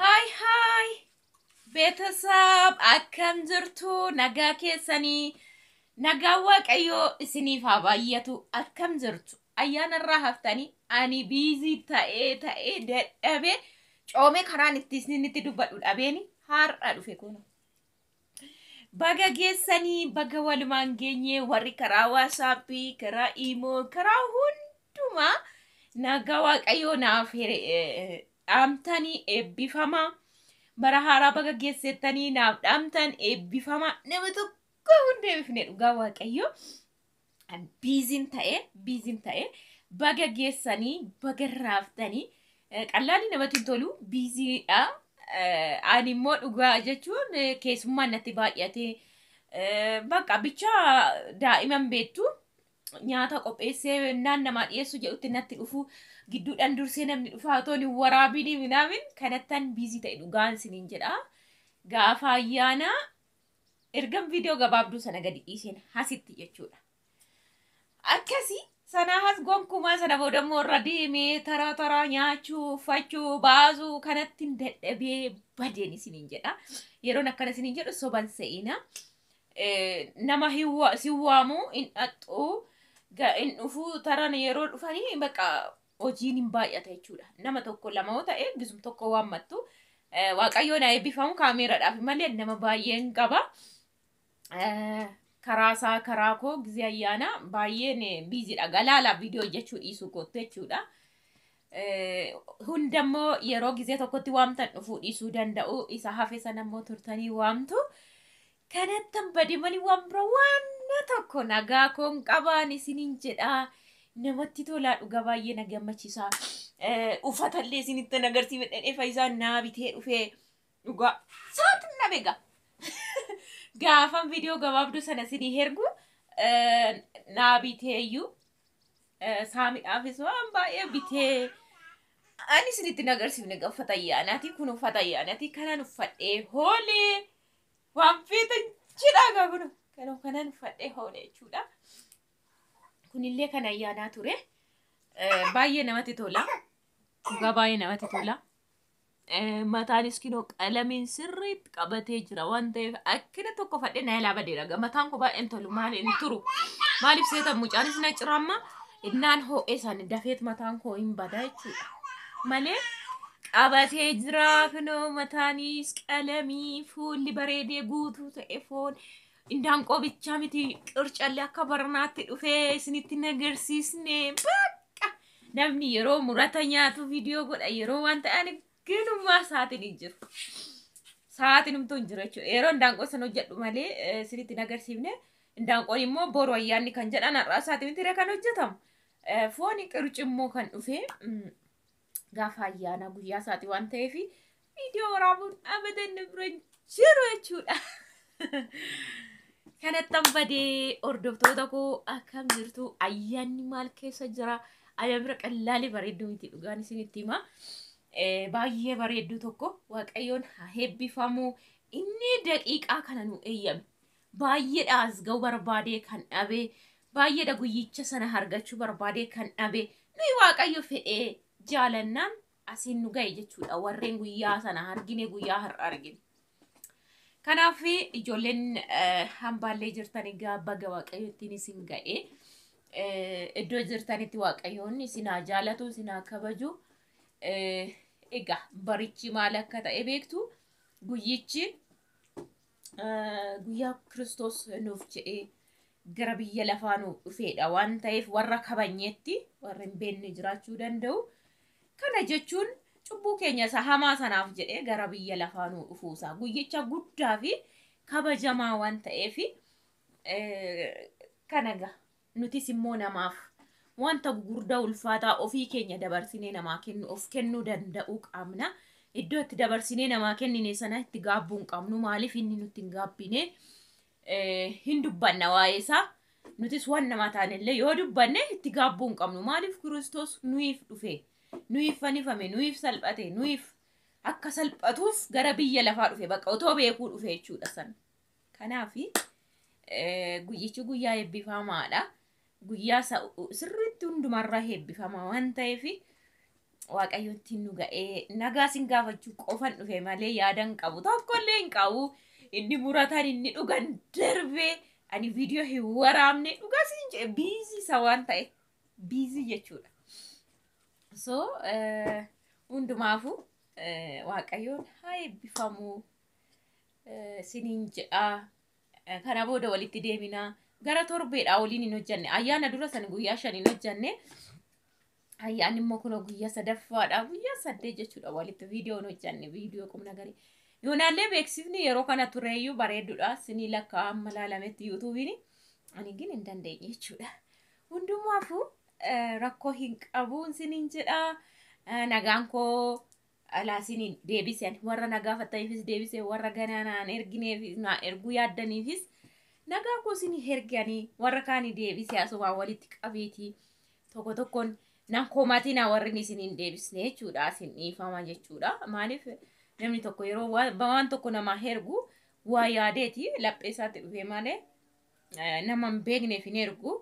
Haay haay beetasab akkam jirtu nagaa keessanii nagaa waaqayyoo isiniif haa baay'atu akkam jirtu ayyaana irraa haftanii ani biizii ta'ee ta'ee dadhabee coomee karaan itti isinitti dubbadhu dhabeeni har'a dhufe kun Baga geessanii baga walumaan geenye warri karaa waasaappii, karaa iimoo, karaa hundumaa nagaa waaqayyoo naaf hire- eh, dhaamtanii eebbifama. Bara haaraa baga geessettanii naaf dhaamtan eebbifama. Nama tokko hin deebifne dhugaa waaqayyoo. biizin ta'e biizin ta'e baga geessanii baga raaftanii eh, qallaalli namatti hin tolu biiziidha. Eh, Ani immoo dhugaa jechuun eh, keessummaan natti baay'ate Eh, bakka bichaa daa'iman beektu nyaata qopheessee naan namaa dhiyeessu jedhutti natti dhufu gidduudhaan dursee namni dhufaa otoo hin waraabiin minaamin kanattan biizii ta'e dhugaan siniin jedha gaafa ayyaana Ergan viidiyoo gabaabduu sana gadi dhiiseen hasitti jechuudha. Akkasi sanaa has gonkumaa sana booda immoo irra deemee taraa taraa nyaachuu, uffachuu, baasuu kanatti hin dadhabee badeen isiniin jedha. Yeroon akkana isiniin jedhu soban se'ina. Nama si waamu hin dhaxxu hin dhufuu taran yeroo dhufanii baqa hojiin hin baay'ata jechuudha. Nama tokko lama yoo ta'e gisum tokko waammattu eh, waaqayyoon haa eebbifamu kaameeraadhaaf malee nama baay'een qaba. Eh, Karaa isaa karaa koo gizee ayyaanaa baay'een eh, biiziidha. Galaala viidiyoo hojjechuu dhiisuu kootti jechuudha. Eh, Hundammoo yeroo gizee tokkotti waamtan dhufuu dhiisuu danda'u. Isa hafe sana immoo turtanii waamtu. Kanattan bade mali waan bira waanna tokko nagaa koon qabaan isinin jedhaa namatti tolaa dhuga baay'ee na gammachisaa ufata illee isinittan agarsiifadhee fayyisaan naa bitee dhufee dhugaa saatin na bega gaafan viidiyoo gabaabduu sana isinii hergu naa biteeyyuu saamidhaafis waan baay'ee bitee ani isinitti hin agarsiifne uffata ayyaanaati kun uffata ayyaanaati kanan uffadhee hoolee waan feetan jedhaa gaa kun kanoo kanan uffadhee hoole jechuudha. Kunillee kan ayyaanaa ture. Eh, Baay'ee namatti tola. Dhugaa baay'ee namatti tola. Eh, Mataanis kinoo qalamiin sirriitti qabatee jira waan ta'eef akkina tokko fadhee na ilaa badeera. Ga- Mataan koo baay'een tolu maali hin turu. Maaliif seetan mucaanis na ciramma innaan ho'ee isaanii dafeet mataan koo hin badaa jechuudha. Malee qabatee jira kunoo mataanis qalamii fuulli bareedee guutuu ta'e foon indaanqoo bichaa miti qircalli akka barnaatti dhufee isinitti hin agarsiisne bakka namni yeroo murata nyaatu viidiyoo godha yeroo waan ta'aniif ganummaa sa'aatiin hin jiru. Sa'aatiin humtuu hin jiru jechuudha. Yeroo indaanqoo san hojjedhu malee eh, isinitti hin agarsiifne. Indaanqoon immoo boru ayyaanni kan jedhan har'aa sa'aatii miti kan hojjetamu. Eh, Fooni qirci immoo kan dhufee mm, gaafa ayyaanaa guyyaa isaati waan ta'eef viidiyoo waraabuun abadan nu bira hin jiru jechuudha. Kanattan badee hordoftoota koo akkam jirtu ayyaanni maal keessa jira ayyaana bira qallaalee bareedduu miti dhugaan isinitti hima. Eh, Baay'ee bareedduu tokko waaqayyoon haa eebbifamu inni daqiiqaa kana nu eeyyame. Baay'eedha asgawu barbaadee kan dhabe, baay'eedha guyyicha sana hargachuu barbaadee kan dhabe. Nuyi Waaqayyo fedhee jaalannaan asiin nu ga'e jechuudha. Warreen guyyaa sana argine guyyaa har'a argine. Kanaaf ijoolleen eh, hambaallee jirtan egaa baga Waaqayyo ittiin isin ga'e. Eh, Iddoo jirtanitti Waaqayyoon isin haa jaalatu, isin haa kabaju. Eh, Egaa barichi maal akka ta'e beektu guyyichi guyyaa Kiristoos nuuf jedhee gara biyya lafaa nu dhufeedha waan ta'eef warra kabajneetti warra hin beekne jiraachuu danda'u. Kana jechuun cubbuu keenya isa hamaa sanaaf jedhee gara biyya lafaa nu dhufuusaa guyyicha guddaa fi kabajamaa waan ta'eef kana gaha. Nutis immoo namaaf wanta gugurdaa ulfaataa ofii keenya dabarsinee namaa kennu of kennuu danda'uu qabna. Iddoo itti dabarsinee namaa kennine sana itti gaabbuu hin qabnu. Maaliif inni nutti hin gaabbine hin dubbanna waa'ee isaa. Nutis waan namaa taanellee yoo dubbanne itti gaabbuu hin qabnu. Maaliif Kiristoos nuyiif dhufe, nuyiif fannifame, nuyiif salphate, nuyiif akka salphatuuf gara biyya lafaa dhufe. Bakka otoo beekuu dhufe jechuudha sana. Kanaaf guyyichi guyyaa eebbifamaadha. Guyyaa sirriitti hundumarraa eebbifama waan ta'eef waaqayyotti nu ga'ee nagaa sin gaafachuu qofan dhufe malee yaadan qabu tokkollee hin qabu. Inni muratan inni dhugan darbee ani viidiyoo hin waraabne dhugaa siin jedhe biizii isa waan ta'e biizii jechuudha. So hundumaafuu waaqayyoon haa eebbifamu. siniin jedha kana booda walitti deemina gara torbeedha waliin hin hojjanne ayyaana dura san guyyaa shan hin hojjanne ayyaanni immoo kunoo guyyaa sadaffaadha guyyaa saddeet jechuudha walitti viidiyoo hin hojjanne viidiyoo qubna garii yoonaallee beeksifni yeroo kana tureeyyuu bareedduudha sinii lakkaa amma laalametti yuutuubiin ani gin hin dandeenye jechuudha hundumaafuu rakkoo hin qabuun siniin jedha nagaan koo dhalaa isiniin deebise ani warra na gaafattaniifis deebise warra ganaa naan ergineef naa erguu yaaddaniifis nagaa koo isinii herge ani warra kaanii deebise asumaa walitti qabeetii tokko tokkoon nan komatina warrin isiniin deebisne jechuudha isin dhiifama jechuudha maaliif namni tokko yeroo waan waan tokko namaa hergu waa yaadeeti laphee isaatti dhufee malee eh, nama hin beekneef hin ergu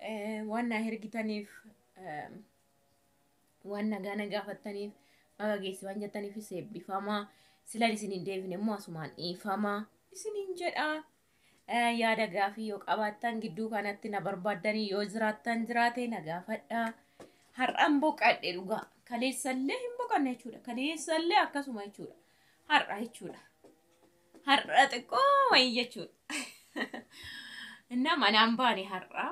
Eh, waan naa hergitaniif eh, Waan nagaa na gaafattaniif baga geesse waan jettaniifis eebbifamaa. Silan isin hin deebine immoo asumaan dhiifamaa isin hin jedhaa. Eh, Yaada gaafii yoo qabaattan gidduu kanatti na barbaaddanii yoo jiraattan jiraate na gaafadhaa. Har'an boqadhe dhugaa. Kaleessallee hin boqanne jechuudha. Kaleessallee akkasuma jechuudha. Har'a jechuudha. Har'a xiqqoo wayii jechuudha. Innaa manaan baane har'a.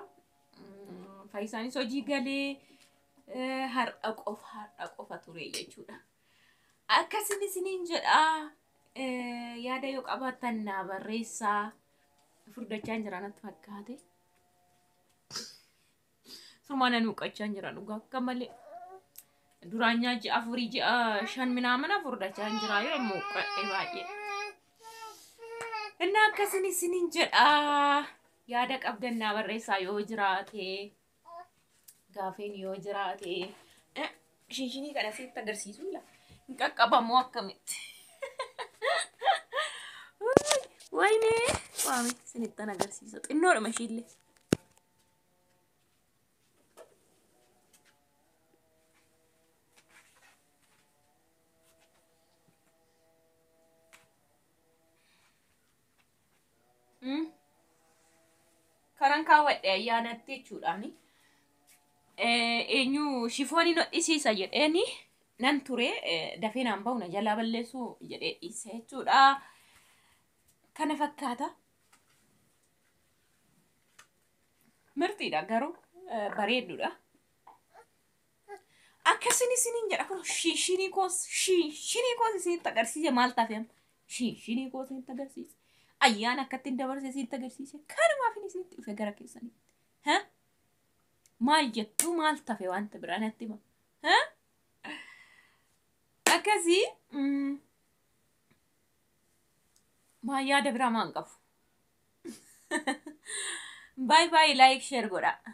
Faayisaanis hojii galee eh, har'a qofa har'a qofa ture jechuudha. Akkasin isiniin jedha eh, yaada yoo qabaattan naa barreessaa furdachaan jira natti fakkaate. Sumaa nan huqqachaan jira dhugaa akka malee. Duraan nyaa ji'a afurii ji'a shan minaamina furdachaan jira yoo immoo huqqadhe baay'ee. Innaa akkasin isiniin jedha. Yaada qabdan naa barreessaa yoo jiraate gaafeen yoo jiraate Eh, shinshinii kana sitti agarsiisuu la hin qaqqabamoo akkamitti Uuy, wayne waame sinittan agarsiisa xinnoodhuma ishiillee Mm. Kanan kaawwadhe ayyaanatti jechuudhaani. Eh, Eenyu shifoonii nodhisiisa jedheeni nan ture eh, dafee naan bahu na jalaa balleessuu jedhee dhiise jechuudha. Kana fakkaata. Mirtiidha garuu eh, bareedduudha. Akkasin isiniin jedha kun shinshinii koos shinshinii koos isinitti agarsiise maal taate amma shinshinii koos isinitti agarsiise ayyaana akkatti hin dabarse isinitti agarsiise kanumaaf inni isinitti dhufe gara keessanitti ha maal jettu maal tafe wanta biraa natti hima ha akkasii mm, maa yaada biraa maan qabu baay baay laayik sheer godhaa.